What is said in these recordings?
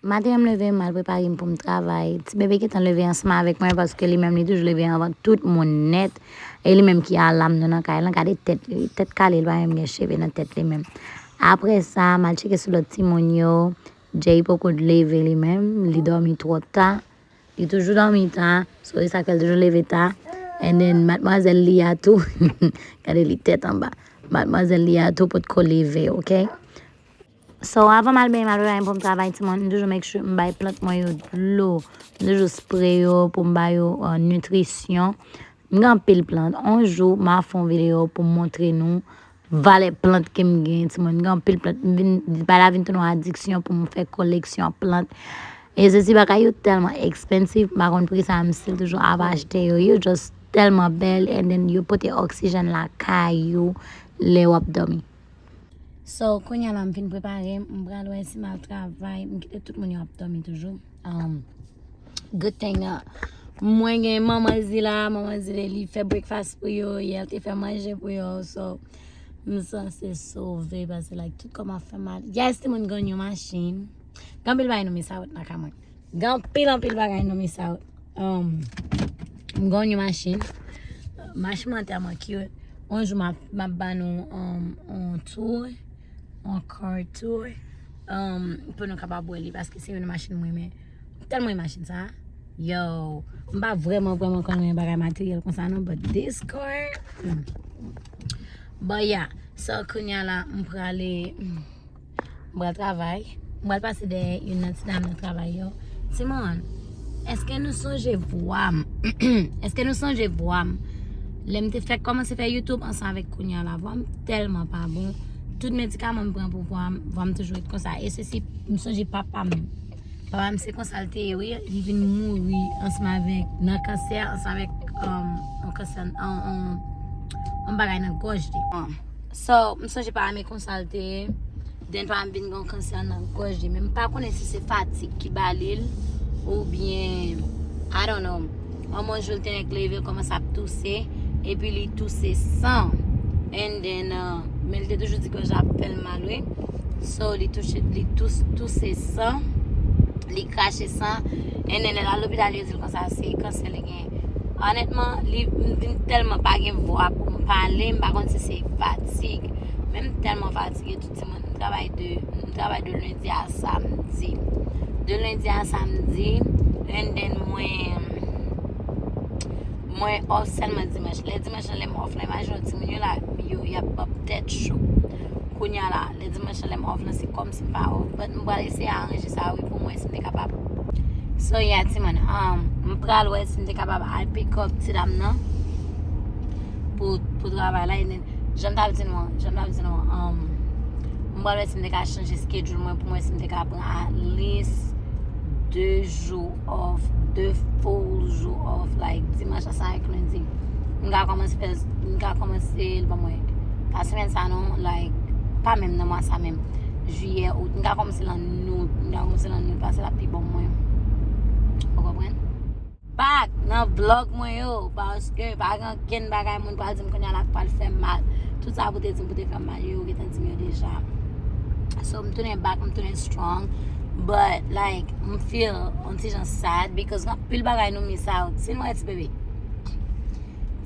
Maten an m leve, m al prepare m pou m travay. Ti bebe gentan leve ansanm avèk mwen paske li menm li toujou leve anvan tout moun nèt. E li menm ki alam nou nan kay lan. Gade tèt li, tèt kale li pa menm gen cheve nan tèt li menm. Apre sa, m al tcheke sou lòt timoun yo. Jay poko leve li menm, li dòmi twò ta. Li toujou dòmi ta, so e sa k fè l toujou leve ta. And then madmwazèl li a tou, gade li tèt anba. Madmwazèl li a tou potko leve, ok. So, avan m al benyen, m al revanyen pou m travay ti moun, m toujou make sure m bay plant mwen yo dlo. M toujou spre yo pou m ba yo nitrisyon. M gen anpil plant. On jou, m a fè yon videyo pou m montre nou valè plant ke m gen. Ti moun, m gen anpil plant. M vin, bagay la vin tounen yon adiksyon pou m fè koleksyon plant. E se ti bagay yo tèlman ekspansif, m pa konn pri sa, m still toujou ap achte yo. Yo just tèlman bèl and then yo pote oksijèn lakay ou lè w ap dòmi. So konya la m fin prepare m pral wè si m al travay m kite tout moun yo ap domi toujou um, good thing uh, mwen gen manman zi la manman zi li fè breakfast pou yo yè te fè manje pou yo so m sanse sove pase like tout kòm ap fè mal yes ti moun ganyo machin Ganpil bay nou mi sa wèt nan ka mwen Gen anpil anpil bagay nan men sa yo. M gonn yon machin. Machin mwen tèlman cute. On jou m ap ba nou on tour. On car tour. Pou nou kapab wè li. Paske se yon nan machin mwen renmen. M tèlman renmen machin sa. Yow. M pa vreman vreman konn yon bagay materyèl konsa non. But this car. Bon ya. So kounya la m prale. M pral travay. M pral pase dèyè youn nan ti dam nan travay yo. Ti moun, èske nou sonje vwa m? Èske nou sonje vwa m? Lè m te fèk kòmanse fè YouTube ansanm avèk kounye a la, vwa m tèlman pa bon. Tout medikaman m pran pou vwa m, vwa m toujou ret konsa. E se si m sonje papa m. Papa m se konsa l te ye wi. Li vin mouri ansanm avèk nan kansè, ansanm avèk yon kansè, yon bagay nan gòj li. So, m sonje pa ame konsa l te ye. Den pa ame vin gen yon kansè nan gòj li. Men m pa konnen si se fatig ki ba li l. Ou byen, I don't know. An mwen jou l te nèk leve l kòmanse ap touse. E pi li touse san. And then, uh, men l te toujou di gòj la ap fè l mal wi. So, li touche, li tous, touse san. Li krache san. And then, lè l al lopital yo di l konsa se kansè li genyen. Onètman, li vin tèlman pa gen vwa pou m pale, m pa konn si se fatig. Men m tèlman fatige tout di moun, m travay de, m travay de lendi a samdi. De lendi a samdi, en den mwen, mwen off sèlman dimanch. Lè dimanch lan lè m off la, imajine w timoun yo la, yo y ap ap tèt cho. Kounye a la. Le dimanche lan lèm off lan se kòm sim pa off but m pral eseye aranje sa wi poum wè sim te kapab So yeah ti moun um, m pral wè sim te kapab al pick up ti dam nan pou pou travay la enen janm tap di nou an, janm tap di nou an um, m pral wè sim te ka chanje schedule mwen poum wè sim te ka pran at least 2 jou. off, 2 full jou off, like dimanche a sa ak lundi. M ka komanse fè, m ka komanse l pou mwen. Pa semen sa non, like, pa menm nan mwa sa menm. Juillet, août, m ka komanse l an août, m ka komanse l an août paske l ap pi bon pou mwen. Ou konprann? Back nan vlog mwen yo paske pa gen Ankenn bagay moun pral di m kounye a la ki pral fè m mal. Tout sa pou te di m pou te fè m mal yo, yo gentan di m yo deja. So m tounen back, m tounen strong. But like, m feel on ti jan sad because gen anpil bagay nou miss out. Si nou wè ti bebe.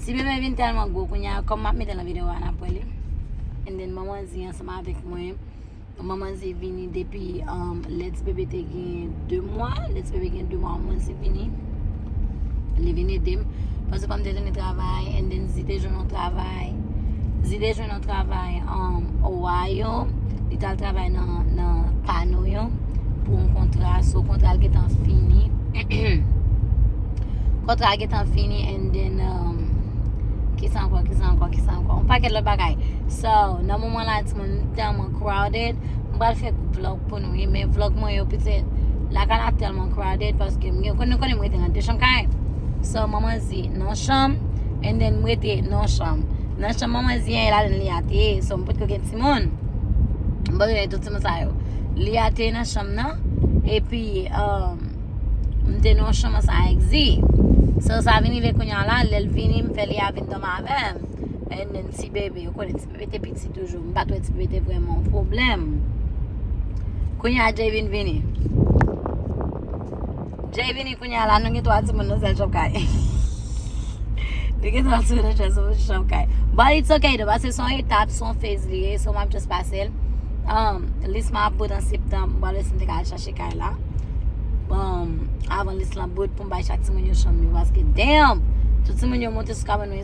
Ti bebe vin tèlman gwo kounye a, kòm m ap mete l nan videyo a, n ap wè li. And then manman di ansanm avèk mwen. Manman ze vini depi lè ti bebe te gen 2 mwa. Lè ti bebe gen 2 mwa, manman ze vini. Li vini ede m. Panse pa m te tounen travay, and then ze te jwenn yon travay. Ze te jwenn yon travay an Ohio. Li t al travay nan pano yo pou yon kontra. So kontra l gentan fini. Kontra l gentan fini and then um, kisa ankò, kisa ankò, kisa ankò. Yon pakèt lòt bagay. So, nan moman la ti. moun li tèlman crowded m pral fè vlog pou nou ye men vlog mwen yo pete lakay la tèlman crowded paske m gen konnen konnen m rete nan 2 chanm kay so m manman zi nan chanm and then m rete nan chanm nan chanm manman zi an e la li a te so m potko gen timoun m potko gen tout timoun sa yo li a te nan chanm nan epi euh, m te nan chanm an sa ak zi so sa vini ve kounye la lèl vini m fè li a vin dòm avèm and then ti bebe ou konnen ti Pipi te piti toujou. M pat wè ti pipi te vrèman yon pwoblèm. Kounye a Jay vin vini. Jay vini kounye a la nou gen 3 timoun nan sèl chanm kay. Nou gen 3 timoun nan sèl chanm kay. But it's okay though paske son etap, son phase li ye. So m ap just pase l. Um, lis mwen ap bout an septanm. M pa wè si m te ka al chache kay la. Um, avan lis lan bout pou m bay chak timoun yo chanm yo. Paske damn! Tout timoun yo monte sou kabann mwen.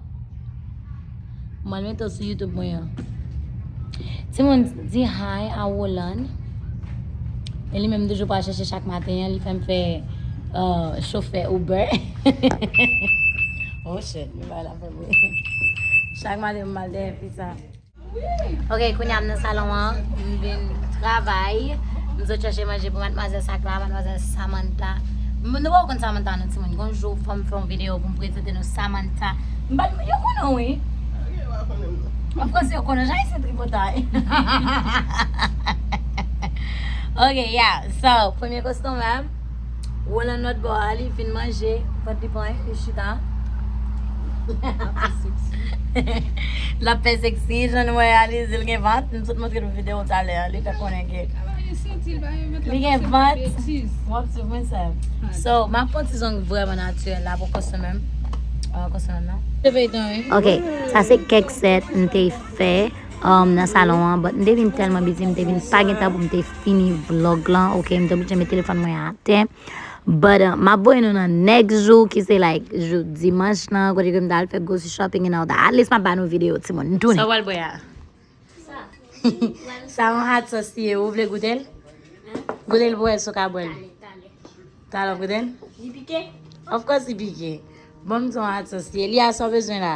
Mwen met ou sou YouTube mwen an. Ti moun di hi a Roland. E li menm toujou pa chèche chak maten an, li fèm fè uh, chofè Uber. oh shit, mwen la fè Chak maten mwen mal dè fi sa. Ok, kounye a m nan salon an, m vin travay, m sot chache manje pou matmwazèl sak la, matmwazèl Samantha. M nou pa konn Samantha non timoun, gon jou fò m fè yon videyo pou m prezante nou Samantha. M pa di yo konnen w wi. Mwen panse yo konnen, jan isi tripotay. Ok, yeah, so, premye kostonmè m. Roland lòt bò a li fin manje pòt li pran li chita. Lap fè seksi jan nou wè a li zil gen vant m sot montre nou video talè a li fè konnen ke li gen vant wap sou mwen sa so ma pon ti zong vreman naturel la pou konsomè m konsomè m nan ok sa se kèk set m te fè um nan salon an but m te vin tèlman bizi m te vin pa gen tan pou m te fini vlog lan ok m te oblije met telefòn mwen atè but uh, map voye nou nan next jou ki se like jou dimanch lan kote ke m ta al fè grocery shopping and all that at least map ba nou video timoun m tounen Sa wal bwe a? Sa yon hot sauce li ye ou vle goute l? Goute l pou wè si w ka bwe l Talè wap goute l? Li pike? Of course li pike Bon m di w yon hot sauce li ye Lia sa w bezwen la?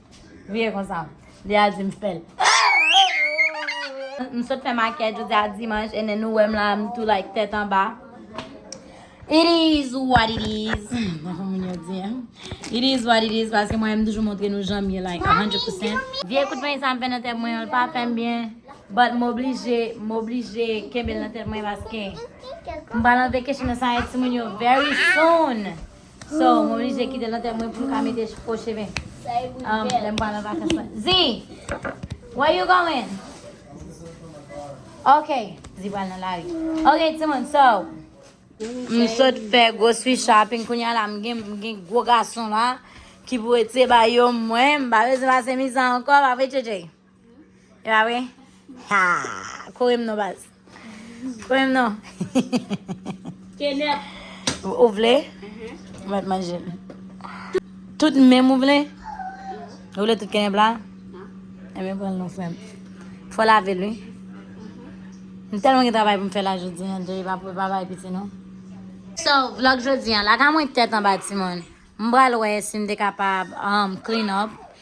Vire konsa. Li a di m fè l. M sot fè makiyaj jodi a dimanch and then nou wè m la m tou like tèt anba. It is what it is. Mwen fè moun yo di an. It is what it is paske mwen m toujou montre nou jan m ye like 100 percent. Vye kout peny sa m fè nan tèt mwen an l pa fè m byen but m oblije m oblije kenbe l nan tèt mwen paske m pral antre keshen nan sa yon timoun yo very soon. So, mwen oblije kite lantè mwen pou m ka mete fo cheve. Um, lè m pral an vakans mwen. Zi! Where you going? Ok, zi pral nan lari. Ok, timoun, so. M sot fè grocery shopping kounya la m gen m gen gwo gason la ki pou ete ba yo mwen m pa bezwen pase mizè ankò pa vre JJ. Ewa we. Ha. Kore m non baz. Kore m non. Kenèp. Ou vle? Ou met manje. Tout menm ou vle? Ou vle tout kenèp la? E men pran non frem. Fwa la vel wi. M tel mwen gen travay pou m fe la jodi. An dey pa pou pa bay piti non. So vlog jodi an. Laka mwen tet an ba ti moun. M bral we si m de kapab. Clean up.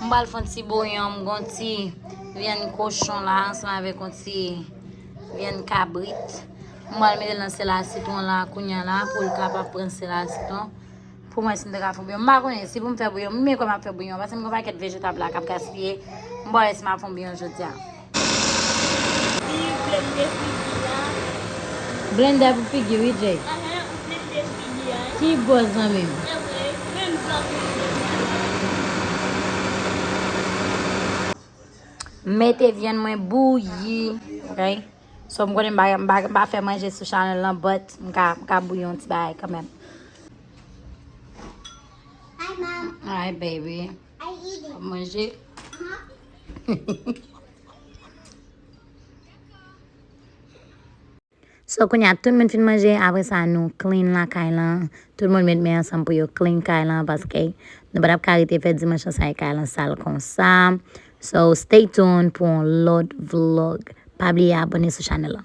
M pral fon ti bouyon, m gon ti vyann kochon la ansanm avèk yon ti vyann kabrit. M pral mete nan sèl a sitwon la kounya la pou l kapab pran sèl a sitwon. Pou m wè si m ta ka fè yon bouyon. M pa konnen si pou m fè bouyon, m menm kwè m ap fè bouyon paske m gen yon pakèt vejetab la k ap gaspiye. M pa wè si m ap fè yon bouyon jodi a. Figi blende figi a. Blende a pou figi wi Jay. Ahh ou blende figi a. Ki bòz zanmi m. Evre menm zanmi m yo sa yo. M mete vyann mwen bouyi. Ok so m konnen m pa fè manje sou chanèl lan but m ka bouyi yon ti bagay kanmèm. Hi mom. Hi baby. Wap manje. So kounye a tout moun fin manje, apre sa nou clean lakay lan. Tout moun met men ansanm pou yo clean kay lan paske nou patap ka rete fè dimanche lan san kay lan sal konsa. So stay tuned pou yon lòt vlog. Pa bliye abone sou chanèl lan.